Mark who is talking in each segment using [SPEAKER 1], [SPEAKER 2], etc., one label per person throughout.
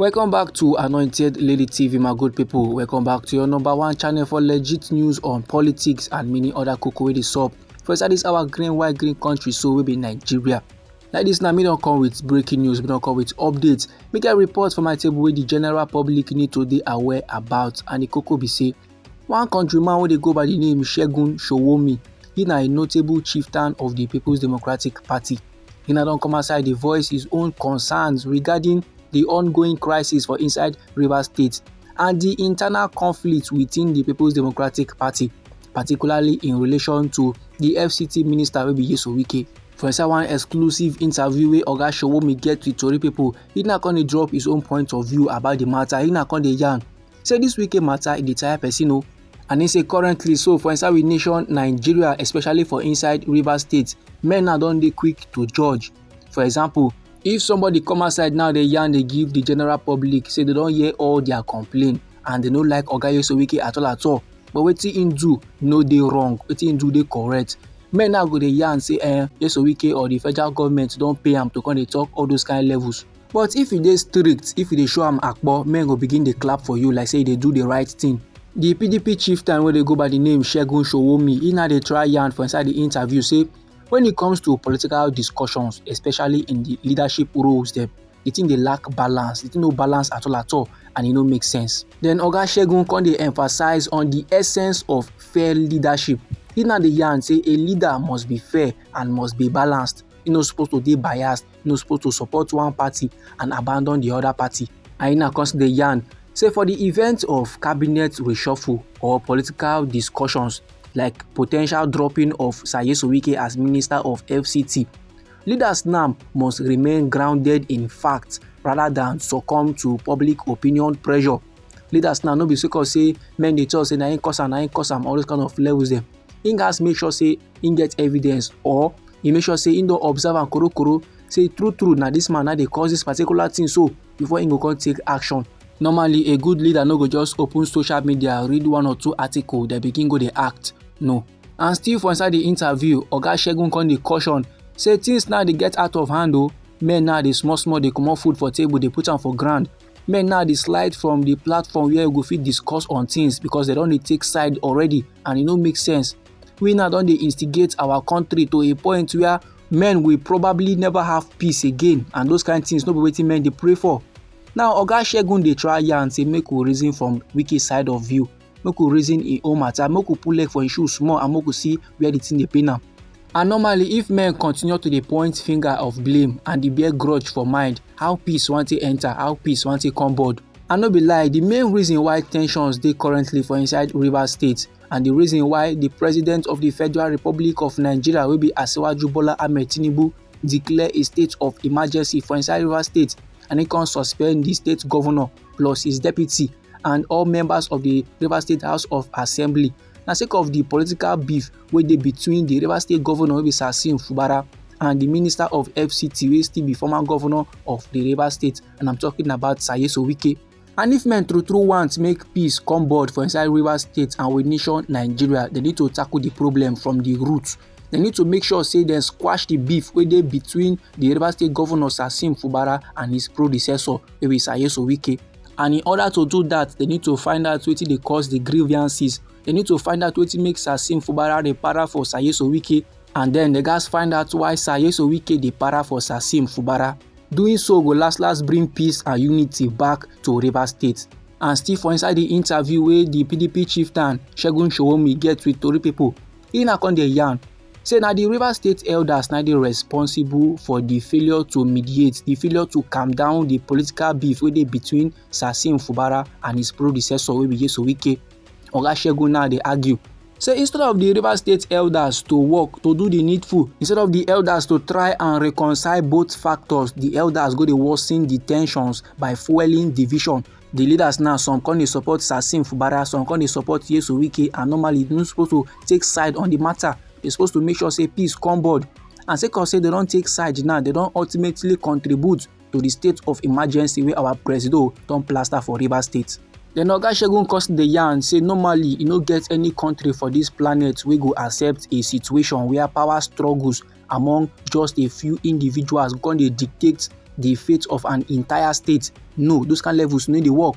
[SPEAKER 1] welcome back to anointed lady tv my good people welcome back to your number one channel for legit news on politics and many other cocoa wey dey sup for inside this our green white green country so we be nigeria like this now me don't come with breaking news me don't come with updates make a report for my table where the general public need to be aware about and the cocoa be say One countryman wey dey go by di name Segun Sowunmi, he na a notable chieftain of di Peoples Democratic Party. He na don come outside dey voice his own concerns regarding di ongoing crisis for inside Rivers State and di internal conflict within di Peoples Democratic Party, particularly in relation to di FCT minister wey be Nyesom Wike. For inside one exclusive interview wey Oga Sowunmi get with tori pipo, he na come dey drop his own point of view about di matter, he na come dey yarn say this wike matter e dey tire person o and he say currently so for inside we nation nigeria especially for inside rivers state men now don dey quick to judge for example if somebody come outside now dey yarn dey give the general public say they don hear all their complaint and they no like oga yesowike at all at all but wetin him do no dey wrong wetin him do dey correct men now go dey yarn say eh yesowike or the federal government don pay am to come dey talk all those kind levels but if you dey strict if you dey show am akpo men go begin dey clap for you like say you dey do the right thing di pdp chieftain wey dey go by di name shegun showomi e na dey try yarn for inside di interview say when it comes to political discussions especially in di leadership roles dem di thing dey lack balance di thing no balance at all at all and e no make sense then oga shegun come dey emphasize on di essence of fair leadership e na dey yarn say a leader must be fair and must be balanced e no suppose to dey biased no suppose to support one party and abandon the other party. Aina come still dey yarn say for the event of cabinet reshuffle or political discussions like potential dropping of Sayeso Wike as Minister of FCT, leaders now must remain grounded in fact rather than succumb to public opinion pressure. Leaders now no be sake of say men dey talk say na im cause am, na im cause am, all those kind of levels dem. he gats make sure say he get evidence or he make sure say he don observe am korokoro say true true na this man na dey cause this particular thing so before he go come take action normally a good leader no go just open social media read one or two article then begin go dey act no and still for inside the interview oga segun come dey caution say things now dey get out of hand o oh. men now dey small small dey comot food for table dey put am for ground men now dey slide from the platform where we go fit discuss on things because they don dey take side already and e no make sense we now don dey instigate our country to a point where men will probably never have peace again and those kind things no be wetin men dey pray for now oga segun dey try yarn say make we reason from wiki side of view make we reason im own matter make we put leg for im shoe small and make we see where the thing dey pain am and normally if men continue to dey point finger of blame and dey bear grudge for mind how peace wan take enter how peace wan take come board I no be lie, the main reason why tensions dey currently for inside Rivers State and the reason why the President of the Federal Republic of Nigeria wey be Asiwaju Bola Ahmed Tinubu declare a state of emergency for inside Rivers State and he come suspend the state governor plus his deputy and all members of the River State House of Assembly na sake of the political beef wey dey between the River State Governor wey be Sasim Fubara and the Minister of FCT wey still be former governor of the River State and I'm talking about Sayeso Wike. And if men true true want make peace come board for inside River State and with nation Nigeria, they need to tackle the problem from the root. Dem need to make sure say dem squash the beef wey dey between the Rivers State Governor Sasim Fubara and his predecessor wey be Sayeso Wike. And in order to do that, they need to find out wetin dey cause the grievances. They need to find out wetin make Sasim Fubara dey para for Sayeso Wike and then they gats find out why Sayeso Wike dey para for Sasim Fubara. Doing so go last last bring peace and unity back to Rivers State. And still for inside the interview wey the PDP chieftain Segun Showomi get with Tori people, He na come dey yarn say na the Rivers State elders na dey responsible for the failure to mediate, the failure to calm down the political beef wey dey between Sasim Fubara and his predecessor wey be Yeso Wike. Oga Segun now dey argue say instead of the Rivers State elders to work to do the needful, instead of the elders to try and reconcile both factors, the elders go dey worsen the tensions by fueling division. the leaders now some come dey support Sasim Fubara some come dey support Yesu Wike and normally you no suppose to take side on the matter they suppose to make sure say peace come board and sake of say they don take side now they don ultimately contribute to the state of emergency wey our presido don plaster for Rivers State. Then Oga Segun cause the yarn say normally e no get any country for this planet wey go accept a situation where power struggles among just a few individuals come dey dictate the fate of an entire state no those kind levels no dey work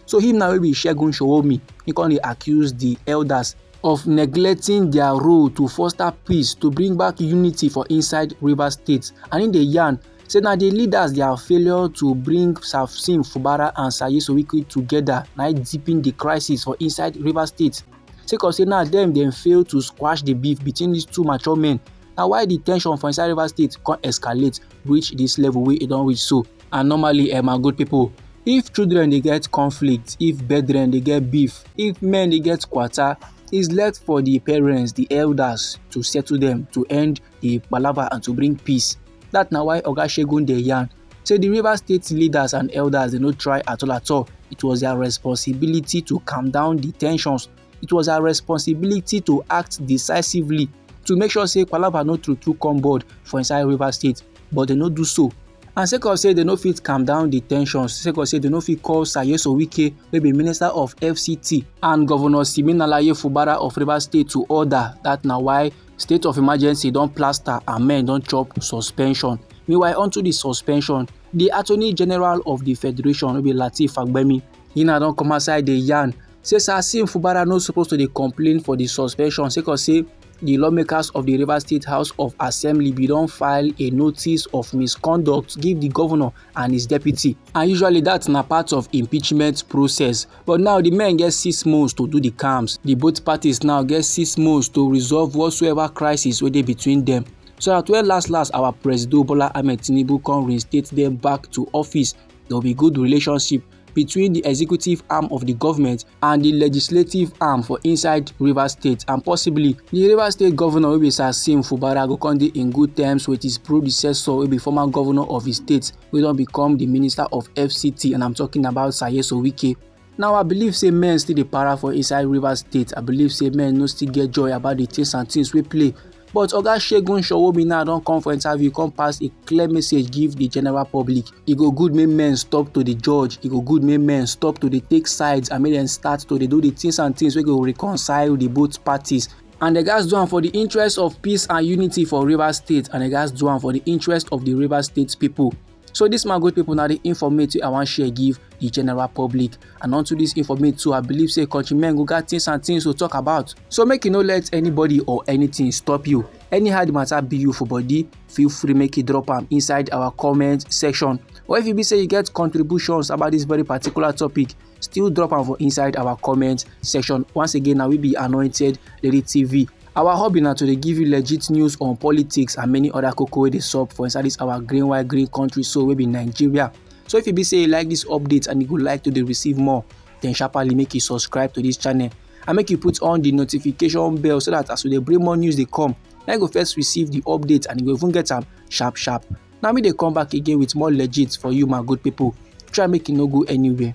[SPEAKER 1] so him now wey be Segun Sowonmi he come dey accuse the elders of neglecting their role to foster peace to bring back unity for inside Rivers State and he dey yarn say na the leaders their failure to bring Samson Fubara and Saye Sowike together na deepen the crisis for inside Rivers State. sake of say now dem dem fail to squash the beef between these two mature men na why the tension for inside rivers state come escalate reach this level wey e don reach so and normally eh my good people if children dey get conflict if brethren dey get beef if men dey get quarter is left for the parents the elders to settle them to end the palava and to bring peace that na why oga shegun dey yarn Say the Rivers State leaders and elders they no try at all at all. It was their responsibility to calm down the tensions. It was our responsibility to act decisively to make sure say palava no true true come board for inside Rivers State, but they no do so. and sake of say dem no fit calm down di ten sions sake of say dem no fit call sayeso wike wey be minister of fct and governor siminalayi fubara of rivers state to order dat na why state of emergency don plaster and men don chop suspension meanwhile unto di suspension di attorney general of di federation wey be lateef fagbemi he na don come outside dey yarn say sir sim fubara no suppose to dey complain for di suspension sake of say di lawmakers of di rivers state house of assembly bin don file a notice of misconduct give di governor and his deputy and usually dat na part of impeachment process But now the men get six months to do the camps. The both parties now get six months to resolve whatsoever crisis wey dey between them. So at well last last our President Bola Ahmed Tinubu come reinstate them back to office, there will be good relationship between the executive arm of the government and the legislative arm for inside Rivers State and possibly the Rivers State governor wey be Sasim Fubara go come dey in good terms with his predecessor wey be former governor of his state wey don become di minister of fct and i'm talking about sayeso wike now i believe say men still dey para for inside rivers state i believe say men no still get joy about the things and things wey play but oga segun showomi now don come for interview come pass a clear message give the general public e go good make men stop to dey judge e go good make men stop to dey take sides and make dem start to dey do the things and things wey go reconcile the both parties And they guys do am for the interest of peace and unity for Rivers State and they guys do am for the interest of the Rivers State people. So this my good people now the informate I want share give the general public and onto this informate too I believe say countrymen go got things and things to talk about. So make you no let anybody or anything stop you. Anyhow the matter be you for body feel free make you drop am inside our comment section or if you be say you get contributions about this very particular topic still drop am for inside our comment section once again na we be anointed lady tv our hobby na to dey give you legit news on politics and many other koko wey dey sup for inside this our green white green country so wey be nigeria so if you be say you like this update and you go like to dey receive more then sharply make you subscribe to this channel and make you put on the notification bell so that as we dey bring more news dey come na you go first receive the update and you go even get am sharp sharp na me dey come back again with more legit for you my good people try make you no go anywhere